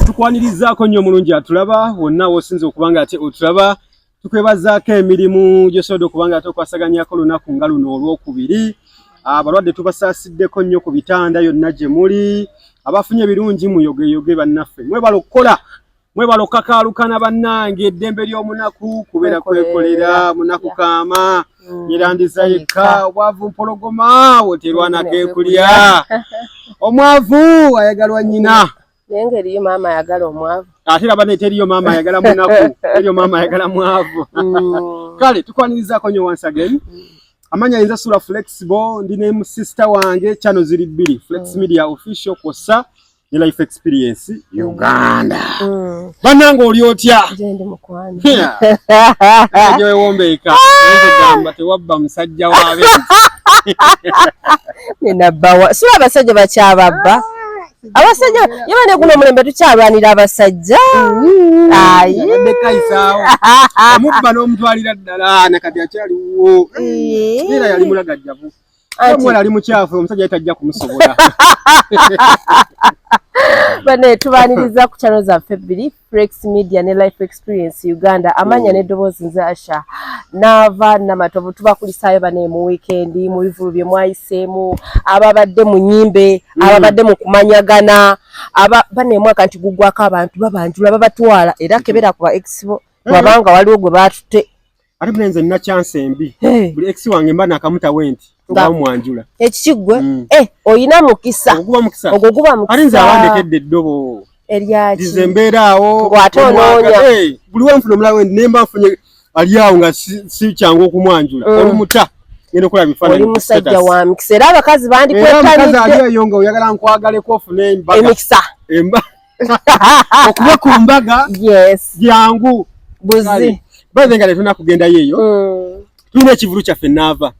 tukwanirizaako nnyo omulungi atulaba wonna wosinza okuba nga ate otulaba tukwebazaako emirimu gyosobodde okuba nga ate okwasaganyako olunaku nga luno olwokubiri abalwadde tubasaasiddeko nnyo ku bitanda yonna gye muli abafunye ebirungi muyogeyoge bannaffe mwebala okukola mwebala okukakaalukana bannange eddembe ly'omunaku kubeera kwekolera munaku kaama mm. yerandiza yekka obwavu mpologoma woterwanako ekulya omwavu ayagalwa nnyina naye nga eriyo maama ayagala omwavu ate laba ne teriyo maama ayagala munaku teriyo maama ayagala mwavu mm. kale tukwanirizaako nyo once again mm. amanya yinza sula flexible ndi ne sister wange chano ziri bbiri flex mm. media official kwossa ne life experience mm. uganda mm. banange oli otya ewombeeka gamba tewabba musajja wabe nenabawa sula abasajja bakyababba abasajja yaba ne guno omulembe tukyalwanira abasajja omubba n'omutwalira ddala nakati akyaliwo era yali mulagajjavu omuwala ali mukyafu omusajja yali tajja kumusobola bane tubaniriza ku kyalo zaffe bbiri Frex Media ne Life Experience Uganda amanya mm. ne dobozi nze Asha nava na matovu tubakulisayo bane mu weekend mu bivulu bye mwayisemu ababadde mu nyimbe mm. ababadde mu kumanyagana aba bane mwaka nti gugwa ka abantu babanjula babatwala era kebera kwa expo mm. wabanga waliwo gwe batute ate bule nze nina chance embi hey. buli ex wange mba nakamuta wenti ngamwanjula ekikigwe mm. eh, oyina mukisa oguba mukisa ogwo guba mukisa ate nze awandekedde eddobo eryaki nze mbeera awo ngwate onoonya hey, buli wenfuna omulawo wendi naye mba nfunye ali awo nga sikyangu si okumwanjula mm. olumuta ngenda okola bifaananyi oli musajja wa mikisa era abakazi bandikwetanidde eyo nga oyagala nkwagaleko ofune embaga emikisa emba okuba ku mbaga jangu baze nga tetulina kugendayo eyo mm. tulina ekivulu kyaffe naava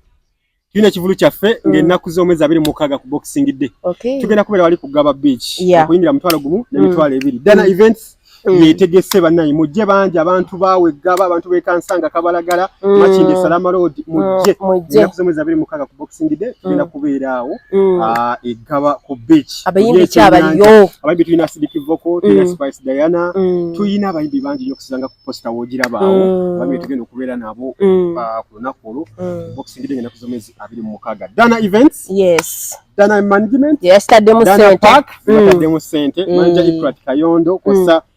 tulina ekivulu kyaffe mm. ngaennaku z'omwezi abiri mukaaga ku boxing day tugenda kubeera wali ku gaba beach okuyingira mutwalo gumu nemitwalo mm. ebiri dana events Mm. yetegese banaye mujje bangi abantu bawe gaba abantu bekansanga kabalagala mm. makinde salama road mm. mujje mujje kuzomeza biri mukaga ku boxing day tugenda kubeera awo ah, egaba ku beach Kati abayimbi ki abaliyo? Abayimbi tulina Sidiki Voko, tulina mm. Spice Diana, mm. tulina abayimbi bangi nnyo kusanga ku posta w'ogiraba awo. Mm. Abayimbi tugenda okubeera nabo mm. uh, ku lunaku olwo. Mm. Boxing Day ng'ennaku z'omwezi abiri mu mukaaga. Dana Events. Yes. Dana Management. Yes, taddemu ssente. Dana Park. Mm. Taddemu ssente. Mm. Manja Ifrat Kayondo. Kosa mm.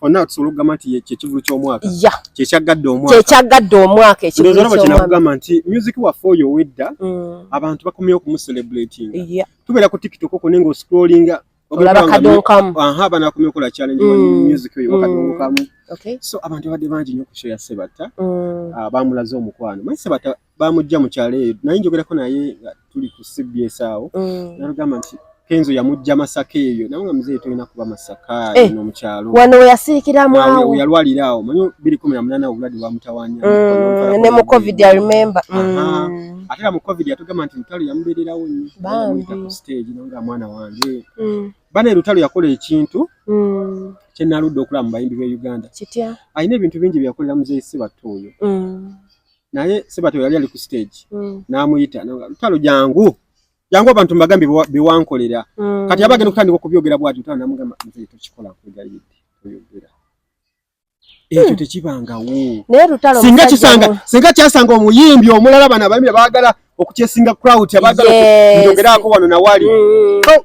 fonna tusobola okugamba nti kyekivulu ky'omwaka ya kyekyaggadde omwaka kyekyaggadde omwaka ekivulu ky'omwaka nti music waffe oyo owedda mm. abantu bakomyeyo okumucelebrating ya tubeera ku tiktok okwo naye ng'oscrollinga olaba kadonkamu aha abana bakomyeyo okola challenge mm. wa music oyo wakadonkamu mm. okay so abantu babadde bangi nnyo ku show ya sebatta mm. ah, bamulaze omukwano manyi sebatta bamujja mu kyalo eyo naye njogerako naye nga tuli ku cbs awo mm. nagamba nti kenzo yamujja masaka eyo naye nga muzeeyi tolina kuba masaka eh, no mukyalo wano weyasirikiramu awo yalwalira awo manyi biri kumi na munana obulwadde bwamutawanya mm, ne mu covid i remember mm. ate era mu covid yatugamba nti lutalo yamubeererawo nnyomuyita ku stage no nga mwana wange mm. bana lutalo yakola ekintu mm. kyenaludde okulaba mu bayimbi b'e uganda alina ebintu bingi byeyakolera muzeeyi sibatta oyo mm. naye sebati yali ali ku stage mm. namuyita lutalo jangu jangu abantu mbagambye bewankolera mm. kati abagenda okutandika okubyogera bwati lutalo namugamba nze tokikola nkwegayidde oyogera hmm. ekyo tekibangawo singa kisanga singa kyasanga omuyimbi omulala bana abayimbi bagala okukyesinga crowd abagala njogerako wano nawali mm. oh.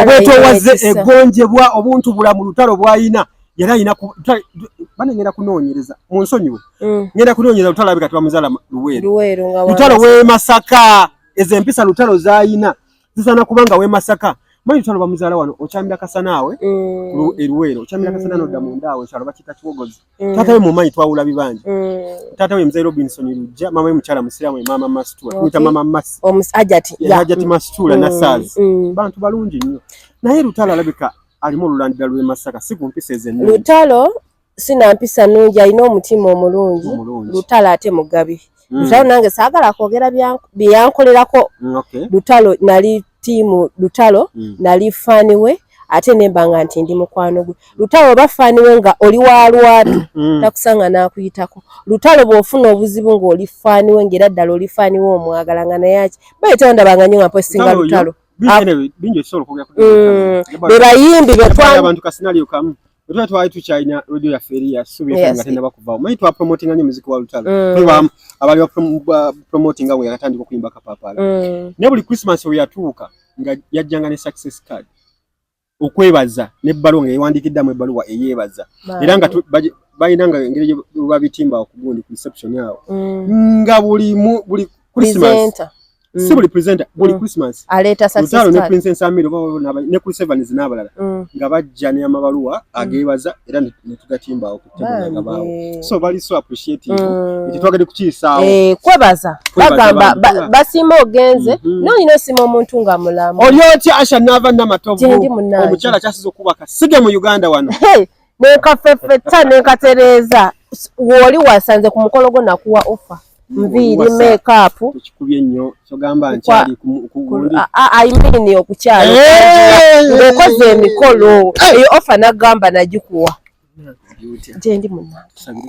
obwetowazze egonjebwa obuntu bulamu lutalo bwayina yali ayina bane ngenda kunoonyereza mu nsonyiwe mm. ngenda kunoonyereza lutalo abika tibamuzala luweero lutalo wemasaka ezo empisa lutalo zayina zisaana kubanga wemasaka manyi lutalo bamuzaala wano okyamira kasanaawe mm. eruweero okyamira mm. kasana nodda mundaawe kyalo bakita kiwogozi Mm. Tata we mumanyi twawula bibanja. Mm. Tata we mzee Robinson Lujja, mama we mchala msiramu we mama Mastura. Okay. Kuita mama Masi. O ms ajati. Ya, yeah. ajati Mastura mm. na Saz. Mm. Bantu balungi nyo. Na hii Lutalo alabika alimu lulandida luwe masaka. Siku mpise zenu. Lutalo sina mpisa nungi alina omutima omulungi lutalo ate mugabi mm. lutalo nange saagala kwogera byeyankolerako mm, lutalo nali tiimu lutalo mm. nali faani we ate nemba nga nti ndi mukwano gwe lutalo oba faani we nga oli wa lwatu mm. takusanga n'akuyitako lutalo bw'ofuna obuzibu ng'oli faani we ng'era ddala oli faani we omwagala nga naye aki baye tewandabanga nyo nga mposinga lutalo ah. mm. bebayimbi betwa Lutalo twali tukyalina radio yaffe eri ya Subi FM nga tennaba kuvaawo. Omanyi twa promotinga nnyo muziki wa Lutalo. Mm. Tuli bamu abali ba promotinga bwe yakatandika okuyimba Kapaapala. Mm. Naye buli Christmas we yatuuka nga yajjanga ne success card okwebaza n'ebbaluwa nga yewandiikiddamu ebbaluwa eyeebaza era nga balina nga engeri gyebabitimba okugundi ku reception awo mm. nga buli Christmas mm. si buli presenter buli mm. Christmas aleeta success card ne Princess Amir oba na ne Chris Evans n'abalala mm. nga bajja ne amabaluwa mm. ageebaza era ne tugatimba okutebula nga bawo so bali so appreciative mm. ekyo twagade kukiisaawo eh, kwebaza bagamba basiima ogenze mm -hmm. n'olina osima omuntu nga mulamu oli otya Asha n'ava namatovu omukyala kyasiza okuba kasiga mu Uganda wano hey. nenkafefetta nenkatereeza wooli wasanze ku mukolo gwo nakuwa offa nviiri makeup ekikubye nnyo kyogamba nkyali kugundi ayimini okukyala ng'okoze emikolo eyo offa nagamba nagikuwa gyendi munange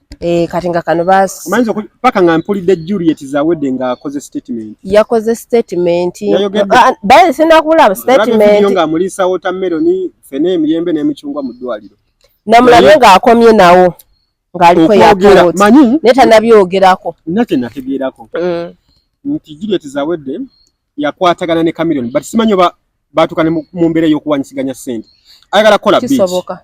Eh, kati nga kano basimanyiza paka nga mpulidde juliet zawedde nga akoze statement yakoze statement ah, baye sinakubulaba statement nga amulisa watermelon fene emiyembe n'emicungwa mu ddwaliro namulabye nga akomye nawo ng'aliko yakooti naye tanabyogerako nina kye nategeerako mm. nti juliet zawedde yakwatagana ne camilion but simanyi oba baatuka ne mu mbeera ey'okuwanyisiganya ssente ayagala kukola bisoboka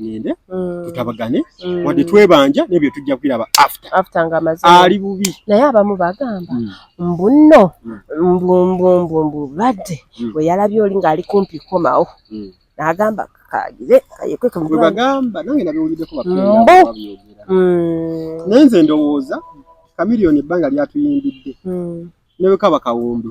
ngende mm. tutabagane mm. wadde twebanja naye bye tujja kubiraba after after nga amaze ali bubi naye abamu bagamba mm. mbuno mbu mbu mbu mbu badde bwe yalabye oli ng'ali kumpi komawo n'agamba kakagire kayekwe kamwe bagamba nange nabiwuliddeko bakumbu naye nze ndowooza kamiliyoni ebbanga lyatuyimbidde newekaba kawumbi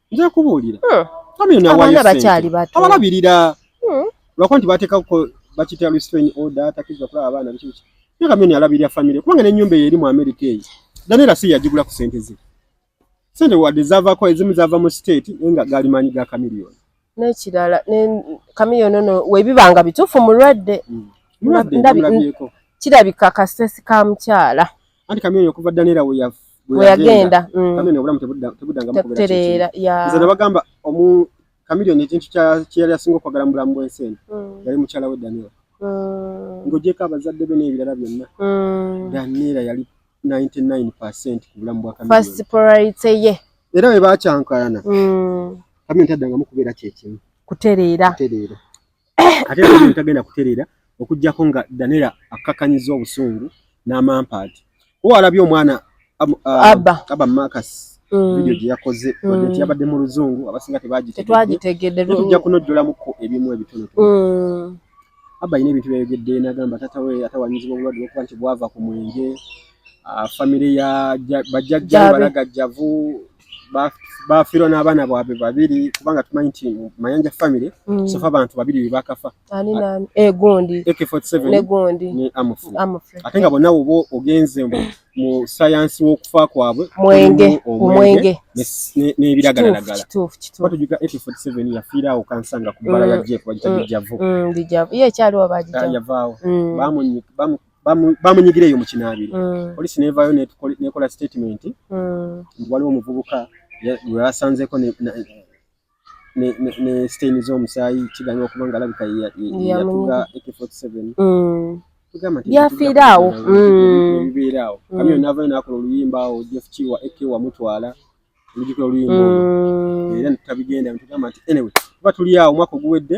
nja kubuulira hmm. abaana bakyali bato abalabirira hmm. lwakuba nti bateekako bakitya restrain order atakiza okulaba abaana biki biki naye kamyoni alabirira famire kubanga n'ennyumba eyo eri mu amerika eyo danera si yagigula ku sente ze sente wadde zavako ezimu zava mu state naye nga gaali maanyi ga kamiliyoni n'ekirala kamiliyoni ono webibanga bituufu mulwadde hmm. kirabika kasitesi ka mukyala anti kamyoni okuva danera weyagenda mm. kamyoni obulamu tebudanga mukubeera nze nabagamba omu kamyoni ekintu kyeyali asinga okwagala mu bulamu bwensi eno mm. yali mukyala we danera mm. ngojeko abazadde be n'ebirala byonna danera yali 99 percent ku bulamu bwa kamyoni era bwe bakyankalana kamyoni taddangamu kubeera kyekimu kutereera ate nabino tagenda kutereera okujjako nga danera akkakanyiza obusungu n'amampaati owalabye omwana aba makas mm. vidiyo gye yakoze mm. nti yabadde mu luzungu abasinga tebagitegeddetujja kunojjolamuko ebimu ebitonotono mm. aba alina ebintu byayogedde nagamba tata we atawanyizibwa obulwadde lwokuba nti bwava ku mwenge famire ya bajjajja balagajjavu bafiirwa n'abaana bwabwe babiri kubanga tumanyi nti mayanja family mm. sofa abantu babiri bebakafa egundi eh, ak47negundi ne amufre ate nga bonna woba ogenze mu sayansi w'okufa kwabwe mwenge omwenge n'ebiragalalagala batujuka ak47 yafiiraawo kansanga ku bbala ya mm. jeku bagita bijjavu mm, bijjavu ye ekyaliwo bagita ah, yavaawo bamunyika bamunyigira eyo mu kinaabiro mm. poliisi neevaayo nekola statement mm. nti waliwo omuvubuka gwe basanzeeko ne stain z'omusaayi kiganya okuba nga alabika yatuga ak47 mm. byafiira awo bibeera awo kamyo naavayo nakola oluyimba awo jeff kiwa ak wamutwala olujukira oluyimba era tabigenda tugamba nti anyway tuba tuli awo omwaka oguwedde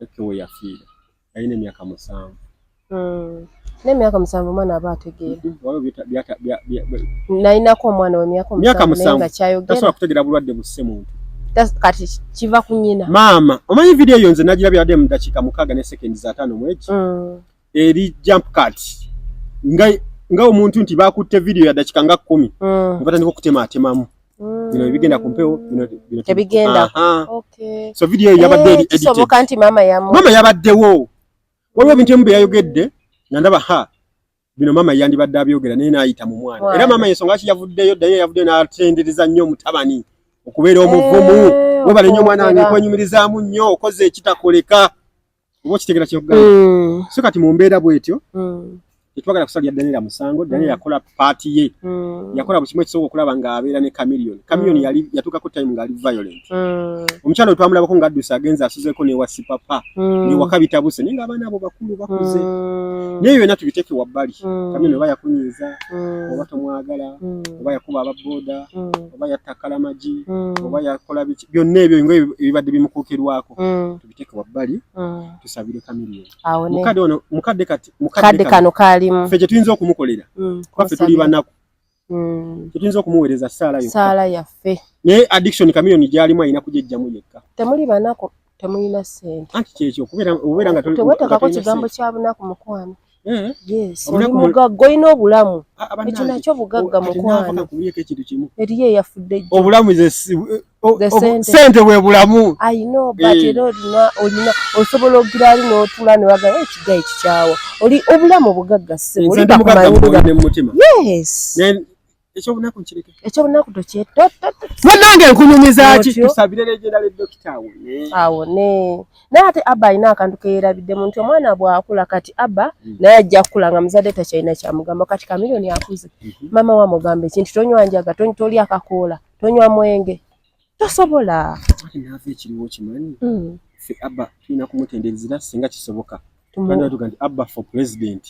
Becky we yafiira yalina emyaka musanvu hmm. n'emyaka musanvu omwana aba ategeera nalinako omwana wemyaka myaka musanvu tasobola kutegeera bulwadde busse muntu kati kiva ku nyina maama omanyi vidiyo eyo nze nagirabye adde mu dakiika mukaaga ne sekendi za taano mwegi hmm. eri jump cut nga nga omuntu nti bakutte video ya dakika nga kumi mm. batandika okutema atemamu mm. bino bigenda ku mpewo tebigenda so video eyo yabadde eh, edikisoboka nti maama yamu maama yabaddewo waliwo ebintu emu bye yayogedde nga ndaba ha bino maama yandibadde abyogera naye naayita mu mwana era maama yensonga ki yavuddeyo ddayo yavuddeyo n'atendereza nnyo omutabani okubeera omuvumu eh, webale nnyo omwana wange kwanyumirizaamu nnyo okoze ekitakoleka oba okitegera kyokugamba mm. so kati mu mbeera bwetyo mm. tetwagala kusalira danira musango danira mm. yakola paati ye mm. yakola buli kimu ekisobola okulaba nga abeera ne camilion camilion mm. yali yatuukako time ngaali violent mm. omukyalo wetwamulabako nga addusa agenze asuzeko newa sipapa mm. newaka bitabuse naye nga abaana abo bakulu bakuze mm. naye byonna tubiteeke wabbali mm. camilion oba yakunyiiza mm. oba tomwagala mm. oba yakuba ababoda mm. oba yattakkala magi mm. oba yakola biki byonna ebyo nga ebibadde bimukuukirwako mm. biteke wabbali mm. tusabire kamiliyo mukadde ono mukadde kati mukadde kano kalimu fe kyetuyinza okumukolera mm, kuba fe tuli banaku mm. kyetuyinza okumuweereza saala yokka saala yaffe naye addiction kamiliyo gyalimu alina kujejjamu yekka temuli banaku temulina sente anti kyekyo kubeera nga tewetekako kigambo kya bunaku mukwano Mm. Yes, oli mugagga olina obulamu ekyo nakyo bugagga mukwano eriyo eyafudde obulamu sente bwe bulamu ayina obata eh. era olina olina osobola ogira ali n'otula ne waga ekiga eh, ekikyawa oli obulamu bugagga sebo oli bakumanyiira yes Ekyobunaku nkireke. Ekyobunaku toche. Munange nkunyumiza ki tusabire legenda le doctor awo ne. Awo ne. Naye ate Abba alina akantu ke yerabidde mu nti omwana bw'akula kati Abba mm. naye ajja kukula nga muzadde takyalina kyamugamba kati kamiliyoni akuze mm -hmm. maama wamugamba ekintu tonywa njaga tolya kakoola tonywa mwenge tosobola naava ekiriwo kimanyi hmm. fe abba tulina kumutendereza era singa kisoboka tuga nti abba for president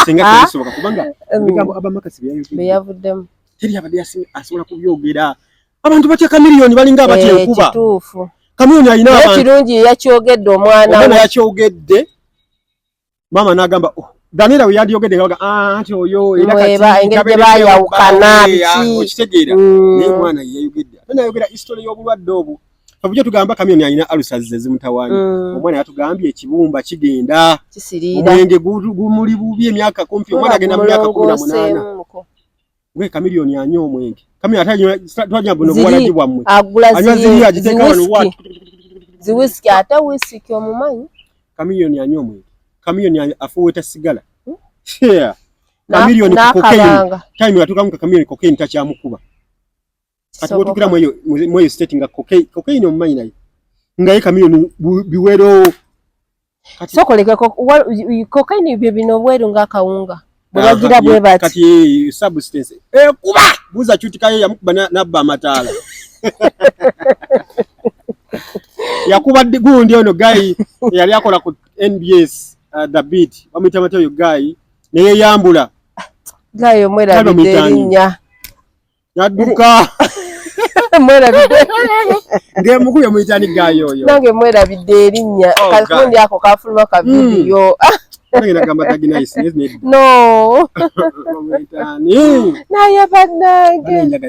singa kisoboka kubanga hmm. ebigambo abba makasi byeyavuddemu teri abadde asobola kubyogera abantu batya kamiliyoni balinga abatya eh, enkuba kamiliyoni alina abantu kirungi yakyogedde omwana we yakyogedde maama n'agamba oh, Daniela we yandiyogedde nga baga ah, anti oyo era katiengeri bayawukana okitegeera mm. naye omwana ye yayogedde ate nayogera history y'obulwadde obwo fabujja tugamba kamyoni alina alusazize zimutawaanya mm. omwana yatugambye ekibumba kigenda omwenge gumuli bubi emyaka kumpi omwana agenda mu myaka kumi na munaana Gwe Chameleone anywa omwenge. Kami ate anywa twanya buno bwalaji bwa mwe. Agula ziri. Anywa ziri ajiteka wano watu. Zi whisky ata whisky kyo mumanyi. Chameleone anywa omwenge. Chameleone afuweta sigala. Hmm? Yeah. Chameleone cocaine. Time yatuka mu Chameleone cocaine tacha mukuba. kati wotukira mweyo mweyo state nga cocaine cocaine omumanyi naye ngaye kamiyoni biwero kati sokolekako cocaine bye bino bweru nga kawunga bwagira bwe bati kati substance eh kuba buza chutikayo yamukuba nabba amatala yakuba gundi ono gayi yali akola ku nbs uh, the beat bamuyita batya oyo gayi neyeyambula gayi omwerabidde erinnya nadduka mwerabidde ngemukubye muyitani gayo oyo nange mwerabidde erinnya oh, kakundi ako kafuluma ka hmm. vidiyo no naye bannange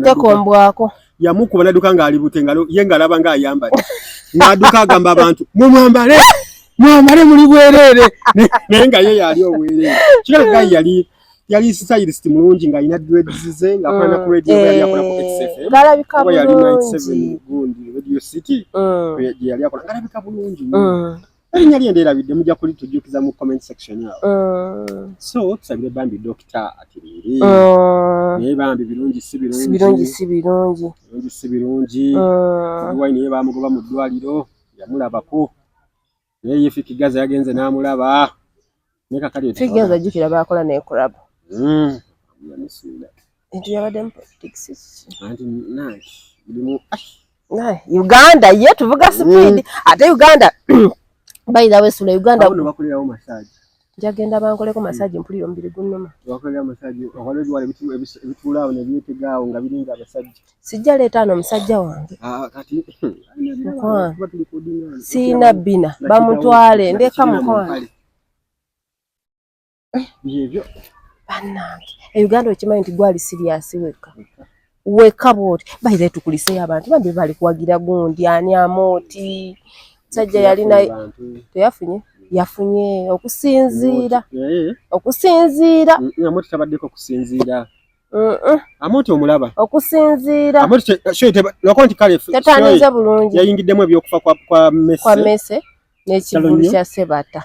tekombwako yamukuba naduka ngaali bute ye ngaalaba ngaayambale ngaaduka agamba abantu mumwambale mwambale muli bwereere naye nga ye yaali obwereere kiraga yali yali stylist mulungi nga alina dreads ze nga akola na ku radio mm. yali akola ku eh, XFM galabika bulungi yali 97 gundi radio city mm. gye yali akola galabika bulungi mm. erinnya lye nderabidde mujja kuli tujjukiza mu comment section awo so tusabire bambi dokita atiriire naye bambi birungi si birungi birungi si birungi birungi si birungi wine ye bamugoba mu ddwaliro yamulabako Naye ye Fiki Gaza yagenze n'amulaba ne kakali Fiki Gaza jjukira baakola ne club hmm. entu yabadde mu politics anti nanti mulimu ah. Uganda ye tuvuga hmm. speed ate Uganda by the way sula Uganda bakulirawo massage Njagenda bankoleko massage mpulira omubiri gunnuma. Wakolera massage waliwo ebiwala ebituula awo ne byetega awo nga biringa abasajja. Sijja leeta ano omusajja wange. Ah, kati mukwano sirina bbina bamutwale ndeka mukwano. Byebyo. Bannange e Uganda okimanyi nti gwali siriyasi wekka. weka bwoti baire tukuliseyo abantu bambi bali kuwagira gundi ani amooti sajja yalina teyafunye yafunye okusinziira eh. okusinziira mm, mm, amooti tabaddeko okusinziira amooti omulaba okusinziira lwako nti kale tatanize bulungi yayingiddemu ebyokufa kwa mese n'ekivulu kya sebata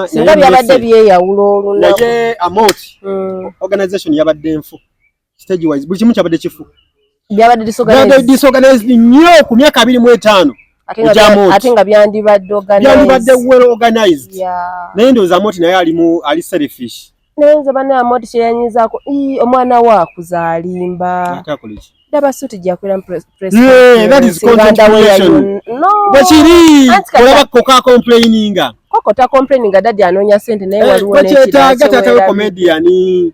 singa byabadde byeyawula olunaku naye amooti mm. organization yabadde nfu stage wise buli kimu kyabadde kifu byabadde disorganized disorganized nnyo ku myaka abiri mu etaano ate nga byandibadde byandibadde well organized naye ndowooza moti naye alimu ali selfish naye nze banaye moti kyeyanyizaako omwana we akuzaalimba ndaba suti gyakulira bwekiri olaba koka complaininga koko ta complaininga dadi anoonya sente naye eh, waliwo nekyetaaga tatawe comediani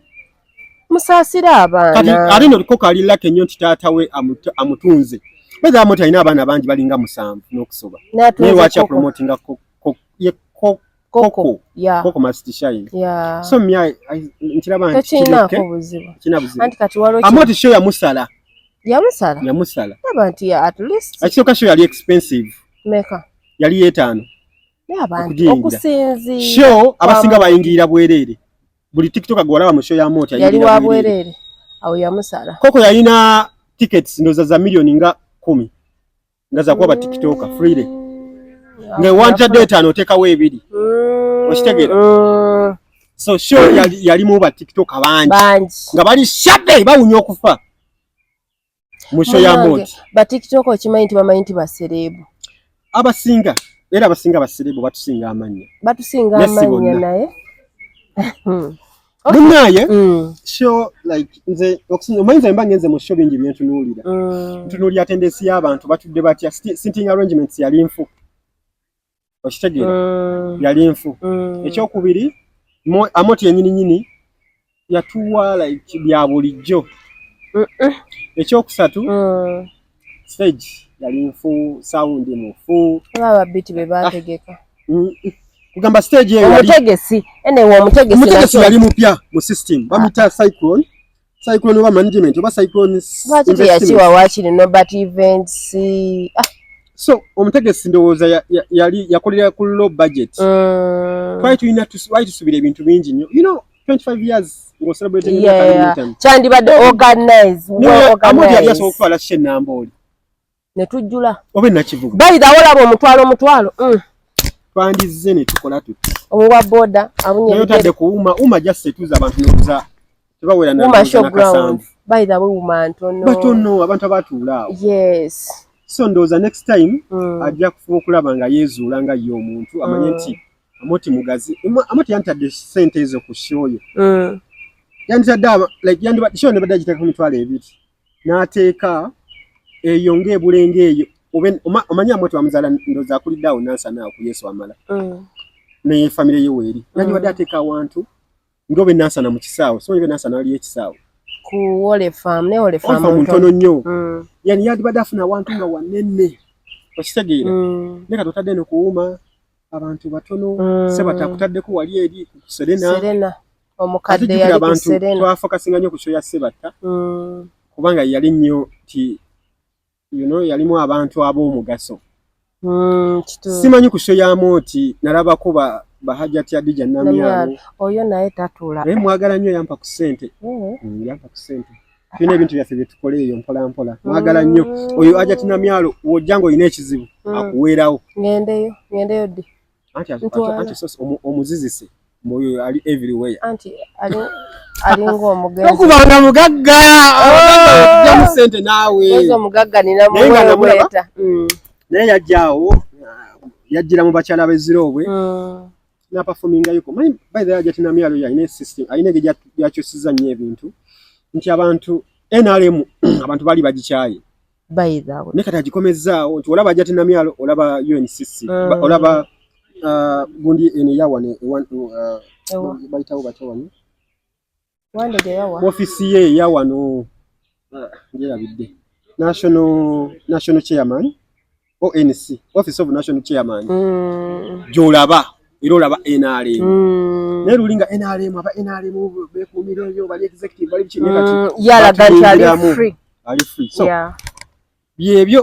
musaasire abaana kati ate no kko kali lake nnyo nti taata we amutunze bweza amoti alina abaana bangi balinga musanvu n'okusoba naye lwaki apromotinga koko koko masitishayini so mya nkiraba ntiamoti sho yamusala yamusala yamusala aba nti at least akisoka sho yali expensive meka yali yetaano okusinzira sho abasinga bayingirira bwereere buli tiktok gwe walaba mu show ya mooti yali wa bwerere awo yamusala koko yalina tickets ndoza za million nga kumi nga za kuba tiktoka freely mm. nga wanja data no teka we bidi mm. oshitegera mm. so show yali, yali mu ba tiktoka banji banji nga bali shabe bawunyo kufa musho ya moti ba tiktok okimanyi nti bamanyi nti baserebu abasinga era abasinga baserebu batusinga amanya batusinga amanya naye munaye mm. sho like nze omanyi nze mba ngenze mu sho bingi byentunuulira mm. ntunuulira tendensi y'abantu batudde batya sinting arrangements yali nfu okitegeera mm. yali nfu mm. ekyokubiri amoti yenyini nyini yatuwa like bya bulijjo ekyokusatu mm. stage yali nfu sound mufu baba biti bebategeka ah. mm. kugamba stage eyo omutegesi enewe omutegesi omutegesi yali mupya mu system bamita ah. cyclone cyclone oba management oba cyclone lwaki teyakiwa wakiri nobert events ah. so omutegesi ndowooza yali yakolera ku low budget mm. twali tulina wali tusubira ebintu bingi nnyo you know 25 years ngocelebratingkyandibadde organize amodi yali asobola okutwala shenambooli ne tujjula obe nakivuga bayidha wolaba omutwalo omutwalo mm. twandizze ne tukola tuti owa boda abunye yotadde kuwuma uma just etuza abantu nokuza tebawera na uma show ground bayidha we uma ntono batono abantu abatuula yes so ndoza next time mm. ajja kufuba okulaba nga yezuula nga ye omuntu amanye mm. nti mm. amoti mugazi amoti yantadde sente ezo ku show yo mm. yantadde like yandi show ne badagiteka ku mitwalo ebiri n'ateeka eyo ng'ebulenga eyo omanyi amwe twamuzaala ndoza akulidde awo nansana awo ku yesu amala mm. naye famire ye weeri mm. yandibadde ateeka awantu ngaobe nansana mu kisaawe so obe nansana waliyo ekisaawe kuwolefamu ntono nnyo mm. yani yandibadde afuna awantu nga wanene okitegeera naye kati otadde nokuwuuma abantu batono sebataakutaddeko wali eri ku serena omukadde yali abantu twafokasinga nyo ku kyoya sebatta mm. kubanga yali nyo ti you know yalimu abantu ab'omugaso mm, simanyi ku kyoyamu oti nalabako ba bahajati adija namyalo oyo naye tatula naye mwagala nyo yampa ku sente mm. mm, yampa ku sente tulina ebintu byaffe byetukola eyo mpola mpola mwagala nyo oyo ajati namyalo wojja nga olina ekizibu akuweerawo ngendeyo ngendeyo ddi anti anti sosi omuzizise mwoyo ali everywhere anti ali ali ng'omugenzi tokubanga mugagga okuja oh! mu sente naawe oza omugagga nina muweeta mm. naye yajjaawo yajjira mu bakyala beziroobwe mm. napafomingayoko manyi by the ajati na myalo yalina esystem alina ge yakyusiza nnyo ebintu nti abantu nrm abantu bali bagikyaye by the way ne kati agikomezzaawo nti olaba ajati namyalo olaba UNCC mm. olaba uh, gundi ene yawa ne one to uh, ewa baitawo bato wano wande ge yawa office ye yawa no uh, ngira bidde national national chairman ONC office of national chairman mm. gyolaba era olaba NRM mm. naye lulinga NRM aba NRM bekuumira ebyo bali executive bali biki naye kati mm. yalaga nti ali free ali free so yeah. byebyo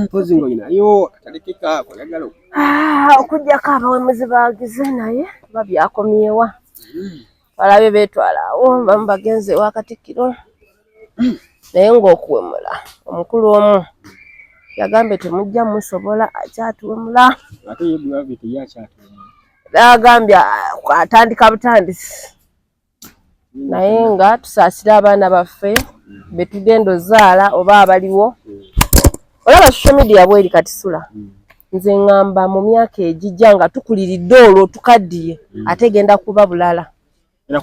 mpozi mm. mm. nga yo atalekeka kwagala ah, okujjako abawemuzi bagize naye babyakomyewa balabe beetwala awo bamu bagenze ewa katikkiro naye ng'okuwemula omukulu omu yagambye temujja musobola akyatuwemula agambye atandika butandisi naye nga tusaasire abaana baffe betugenda ozaala oba abaliwo olaba social media bweri katisula mm. nze ŋŋamba mu myaka egijja nga tukuliridde olwo tukaddiye mm. ate genda kuba bulala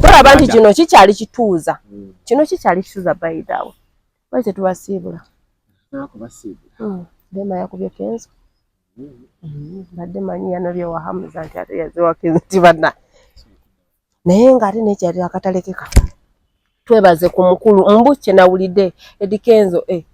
tulaba nti kino kikyali kituuza mm. kino kikyali kituuza bayidaawo bali tetubasiibula mm. dema yakubye kenzo mm-hmm. badde manyi yanobyewahamuza nti ate yaziwakenzo nti banna naye nga ate nekyali akatalekeka twebaze ku mukulu mbu kyenawulidde edikenzo e eh.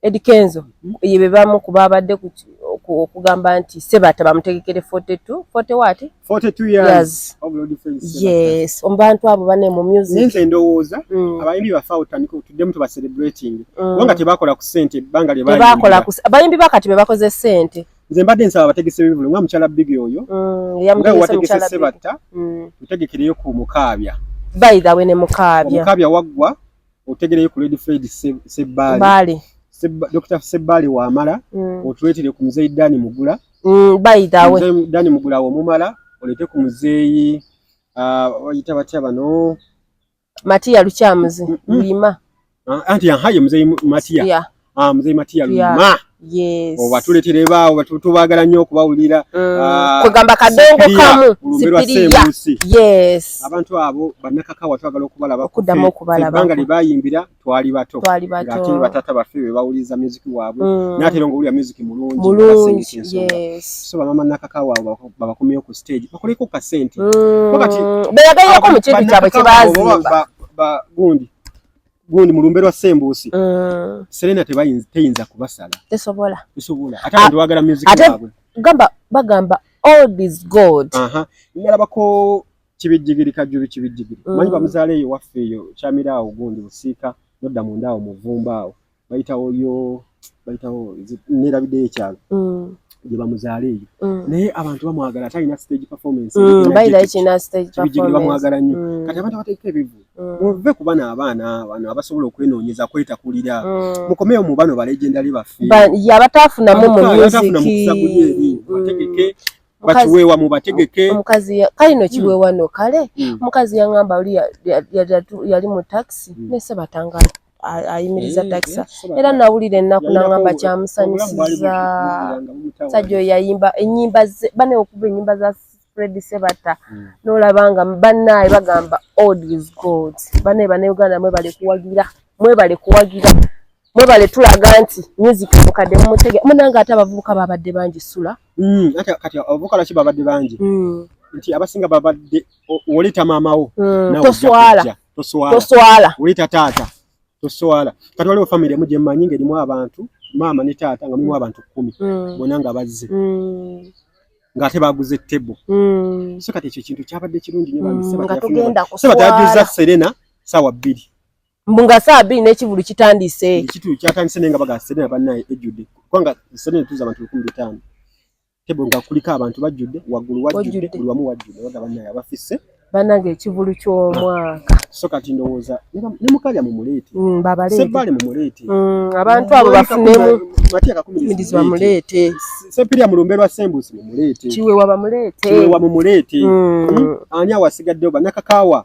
Eddy Kenzo ye be bamu ku baabadde ku ki- oku- okugamba nti Sebatta bamutegekere 42 40 waati 42 years Years. of Lord Felix Sebatta. yes omu bantu abo bane mu Naye music nze ndowooza Mm, abayimbi baffe awo tutandike tuddemu tuba celebrating mm. kubanga tebakola ku sente ebbanga lye tebakola bayimbira. ku bayimbi bakati be bakoze sente nze mbadde nsaba abategese b'ebivulu nga mukyala bigi oyo Mm, nga eyamutegese wategese mukyala Biggie. sebatta Mm. tutegekereyo ku mukaabya by the way ne mukaabya omukaabya waggwa otegereyo ku Lady Fred Sebbaale Dr. Sebbaale wamala mm. otuleetere ku muzeeyi Dani Mugula mm, bayitawe Dani Mugula womumala oleete ku muzeeyi ah, bayita uh, batya bano Matiya Lukyamuzi mm, mm. Luyima ah, anti aha ye muzeeyi Matiya yeah. Ah, mzee Matia Luma yes. obatuletera ebaawo tubaagala nnyo okubawulira mm. ah, kwegamba kadongo kamu sipiriya yes. abantu abo banakakawa twagala okubalabakuddamu okubalabanga lye bayimbira twali bato ngate batata baffe be bawuliriza music waabwe mm. natera nga owulira music mulungi mulungi yes. so bamama nakakawa abo babakomyeyo ku stage bakoleko ku kasente mm. beyagairako mu kintu kyabwe kyebazimba gundi gundi mulumbe lwa sembusi mm. Serena tebayinza teyinza kubasala tesobola tesobola ate abantu bagala music yabwe gamba bagamba all is god aha ngalaba ko kibijigiri kajju bikibijigiri mm. manyi bamuzale yo waffe yo chamira awo gundi busiika nodda mundaawo muvumba awo bayitawo yo bayitawo neerabiddeyo ekyalo mm. gye bamuzaala eyo mm. naye abantu bamwagala ate alina stage performancebamwagala nnyo kati abantu abateeka ebivu muve ku bano abaana bano abasobola okwenoonyeza kwetakulira mukomeyo mu bano balegendali baffe yabataafunamu mu muziki bakiweewa mubategeke omukazi kale no kiweewa hmm. no kale hmm. omukazi yaŋamba oli yali mu taxi hmm. nese batangala ayimiriza takisa era nawulira ennaku nangamba kyamusanyusiza sajja oyo yayimba enyimba ze bane okuva enyimba za fred sebata hmm. nolaba nga banaye bagamba old is gold banaye banauganda mwebale kuwagira mwebale kuwagira mwebale tulaga nti music mukadde mumutege munange ate abavubuka babadde bangi sula hmm, kati abavubuka laki babadde bangi hmm. nti abasinga babadde woleta maamawo toswala toswala toswala ulita tata toswala kati waliwo family emu gye mmanyi ng'erimu abantu maama ne taata nga mulimu abantu kkumi mm. bona nga bazze mm. ng'ate baguze tebo mm. so kati ekyo ekintu kyabadde kirungi nyo bamisebatayajuzza serena saawa bbiri mbu nga saawa bbiri n'ekivulu kitandise ekitu kyatandise naye nga baga serena bannaye ejjudde kubanga serena tuza abantu lukumi bitaano tebo nga kuliko abantu bajjudde waggulu wajjudde buli wamu wajjudde baga bannaye abafisse banange ekivulu ky'omwaka so kati ndowooza ne mukalya mu muleete mm, sebbaale mu muleete mm, abantu abo bafunemu mirizi bamuleete sepirya mulumbe lwa sembusi mumuleete kiwewa bamuleete kiwewa mumuleete mm. ani awasigaddeyo banakakaawa